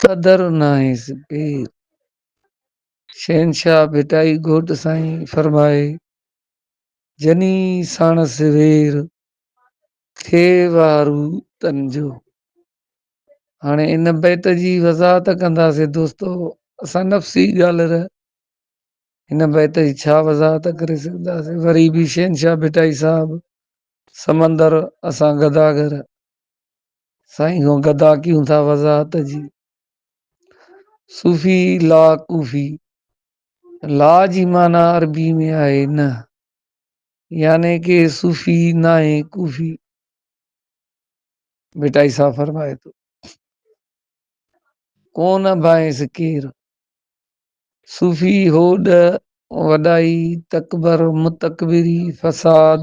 قدر ناهيس پير شهنشاهه ڀٽائي گهوٽ سائين فرمائي جني ساڻس وير ٿئي وارو تن جو هاڻي ان بيت جي وضاحت ڪنداسي دوستو اسان نفسي ڳالهر هن بيت جي ڇا وضاحت ڪري سگهنداسي وري به شهنشاهه ڀٽائي صاحب سمندر اسان گداگر سائين سو گدا ڪيون ٿا وضاحت جي صوفي لا ڪوفي لا جي معنی عربي ۾ آهي نه يعني ڪي صوفي ناهي ڪوفي بيٽائي صاحب فرمائي ٿو ڪون ابائيس ڪير صوفي هوڏ وڏائي تڪبر متڪبري فساد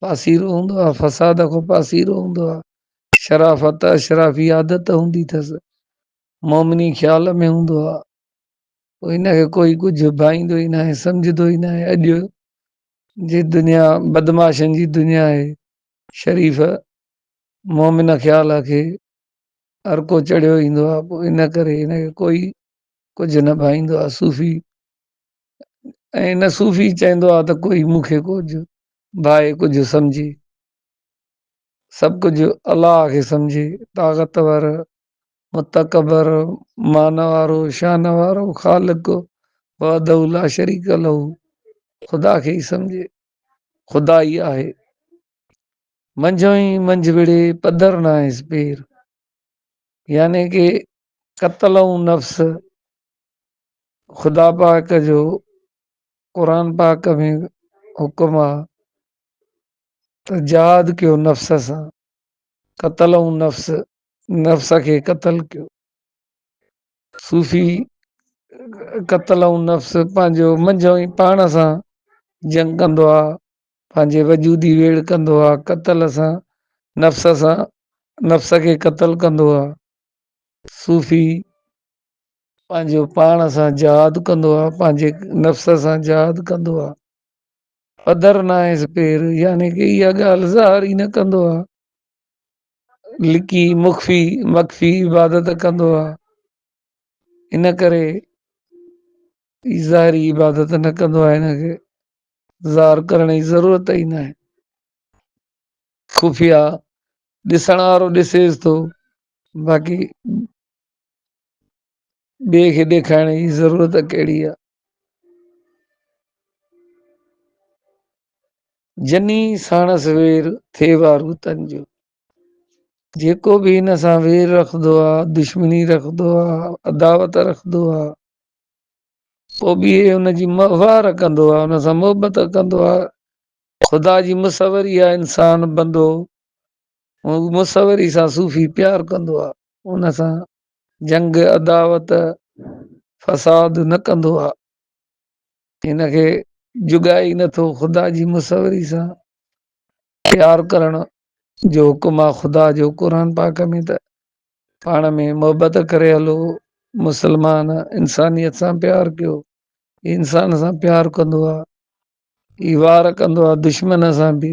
پاسيرو هوندو آ، فساد کان پاسيرو هوندو آ، شرافت اشرافي عادت هوندي ٿس، مومني خيال ۾ هوندو آ، پوء هن کي ڪوئي ڪجهه ڀائيندو ئي ناهي، سمجهندو ئي ناهي، اڄ جي دنيا بدمعاشن جي دنيا آهي، شريف مومن خيال کي ارڪو چڙهيو ايندو آ، پوء ان ڪري هن کي ڪوئي ڪجهه نه ڀائيندو آ، صوفي ۽ نه صوفي چاهيندو آهي ته ڪوئي مون کي ڪجهه ڀائي ڪجهه سمجهي سڀ ڪجهه الله کي سمجهي طاقتور متڪبر مان وارو شان وارو خالق وحده لا شريڪ له خدا کي ئي سمجهي خدا ئي آهي منجهو ئي منجهه وڙي پڌر نه آهيس پير يعني ڪي قتل ۽ نفس خدا پاڪ جو قرآن پاڪ ۾ حڪم آ ته جهاد ڪيو نفس سان قتل ۽ نفس نفس کي قتل ڪيو صوفي قتل ۽ نفس پنهنجو منجهو ئي پاڻ سان جنگ ڪندو آ پنهنجي وجودي ويڙ ڪندو آ قتل سان نفس سان نفس کي قتل ڪندو آ صوفي پنهنجو پاڻ سان جهاد ڪندو آ، پنهنجي نفس سان جهاد ڪندو آ. پڌر ناهيس پير، يعني ڪي اها ڳالهه ظاهر ئي نه ڪندو آ. لڪي مخفي مخفي عبادت ڪندو آ. ان ڪري هي ظاهري عبادت نه ڪندو آ هن کي ظاهر ڪرڻ جي ضرورت ئي ناهي. خفيه ڏسڻ وارو ڏسيس ٿو باقي ٻئي کي ڏيکارڻ جي ضرورت ڪهڙي آ؟ جني ساڻس وير ٿئي وارو تن جو جيڪو به هن سان وير رکندو آ دشمني رکندو آ عداوت رکندو آ پو به ان جي مهوار ڪندو آ ان سان محبت ڪندو آ خدا جي مصوري آ انسان بندو مصوري سان صوفي پيار ڪندو آ ان سان جنگ عداوت فساد نه ڪندو آ ان کي جڳائي نه ٿو خدا جي مصوري سان پيار ڪرڻ جو حڪم آ خدا جو قرآن پاڪ ۾ ته پاڻ ۾ محبت ڪري هلو مسلمان انسانيت سان پيار ڪيو انسان سان پيار ڪندو آ هي وار ڪندو آ دشمن سان به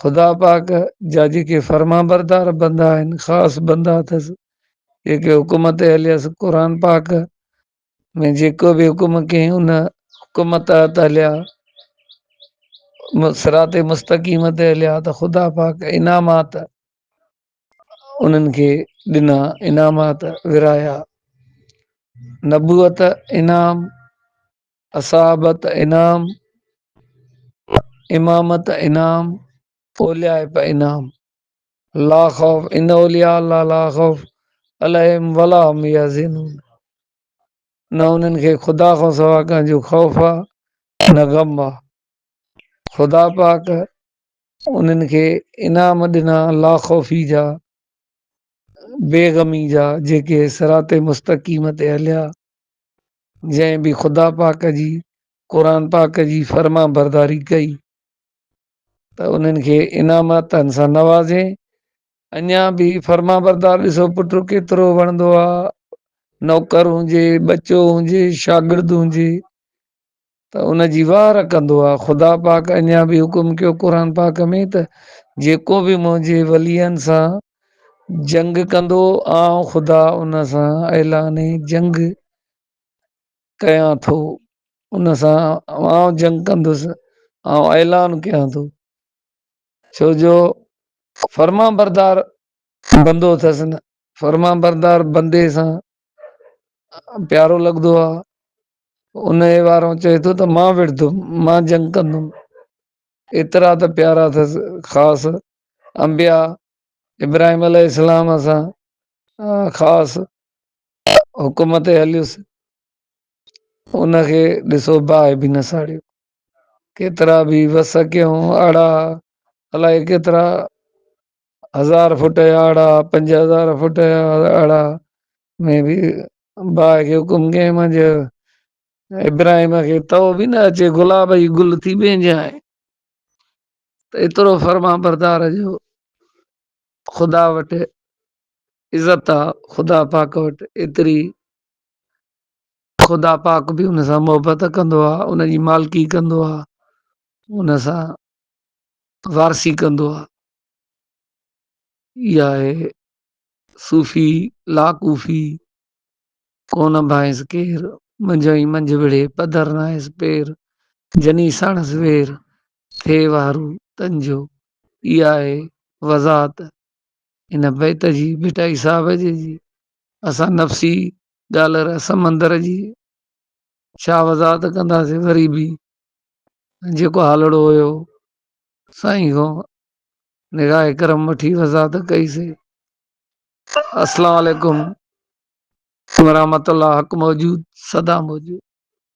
خدا پاڪ جا جيڪي فرمانبردار بندا آهن خاص بندا اٿس جيڪي حڪم تي هليس قرآن پاڪ ۾ جيڪو به حڪم ڪيائين ان حڪم تحت هليا صراط مستقيم تي هليا ته خدا پاڪ انعامات انهن کي ڏنا انعامات ورايا نبوت انعام اصحابت انعام، امامت انعام، اوليائپ انعام، لا خوف ان اولياء الله لا خوف عليهم ولا هم يحزنون نه انهن کي خدا کان سوا ڪنهن جو خوف آ نه غم آ خدا پاڪ انهن کي انعام ڏنا لا خوفي جا بيغمي جا جيڪي صراط مستقيم تي هليا جنهن به خدا پاڪ جي قرآن پاڪ جي فرمانبرداري ڪئي ته انهن کي انعاماتن سان نوازين اڃا به فرمانبردار ڏسو پٽ ڪيترو وڻندو آ نوڪر هجي ٻچو هجي شاگرد هجي ته ان جي واهه رکندو آهي، خدا پاڪ اڃا به حڪم ڪيو قرآن پاڪ ۾ ته جيڪو به منهنجي ولين سان جنگ ڪندو آئون خدا ان سان اعلان جنگ ڪيان ٿو ان سان آئون جنگ ڪندس آئون اعلان ڪيان ٿو ڇو جو فرما بردار بندو اٿس نه فرما بردار بندي سان پيارو لڳندو آ انهيء وارو چئي ٿو ته مان وڙهندم، مان جنگ ڪندم. ايترا ته پيارا اٿس خاص انبياء ابراهيم عليه السلام سان خاص حڪم تي هليس ان کي ڏسو باهه به نه ساڙيو ڪيترا به وس ڪيون اڙا الائي ڪيترا هزار فٽ يا اڙا پنج هزار فٽ يا اڙا ۾ به باء کي حڪم ڪيائين مان چيو ابراهيم کي تئو به نه اچي گلاب جي گل ٿي ٻيجانء ته ايترو فرمان بردار جو خدا وٽ عزت آ خدا پاڪ وٽ ايتري خدا پاڪ به ان سان محبت ڪندو آ ان جي مالڪي ڪندو آ ان سان وارسي ڪندو آ اها آهي صوفي لاڪوفي، ڪو نه ڀانئس ڪير، منجهه ئي منجهه وڙهي، پڌر ناهيس پير، جني ساڻس وير، ٿئي وارو تن جو. اها آهي وضاحت هن بيت جي ڀٽائي صاحب جي جي اسان نفسي ڊالر سمندر جي ڇا وضاحت ڪنداسين وري به جيڪو هالڙو هيو سائين کان نگاهه اڪرم وٺي وضاحت ڪئي سي. السلام عليڪم ورحمة الله حق موجود سدا موجود.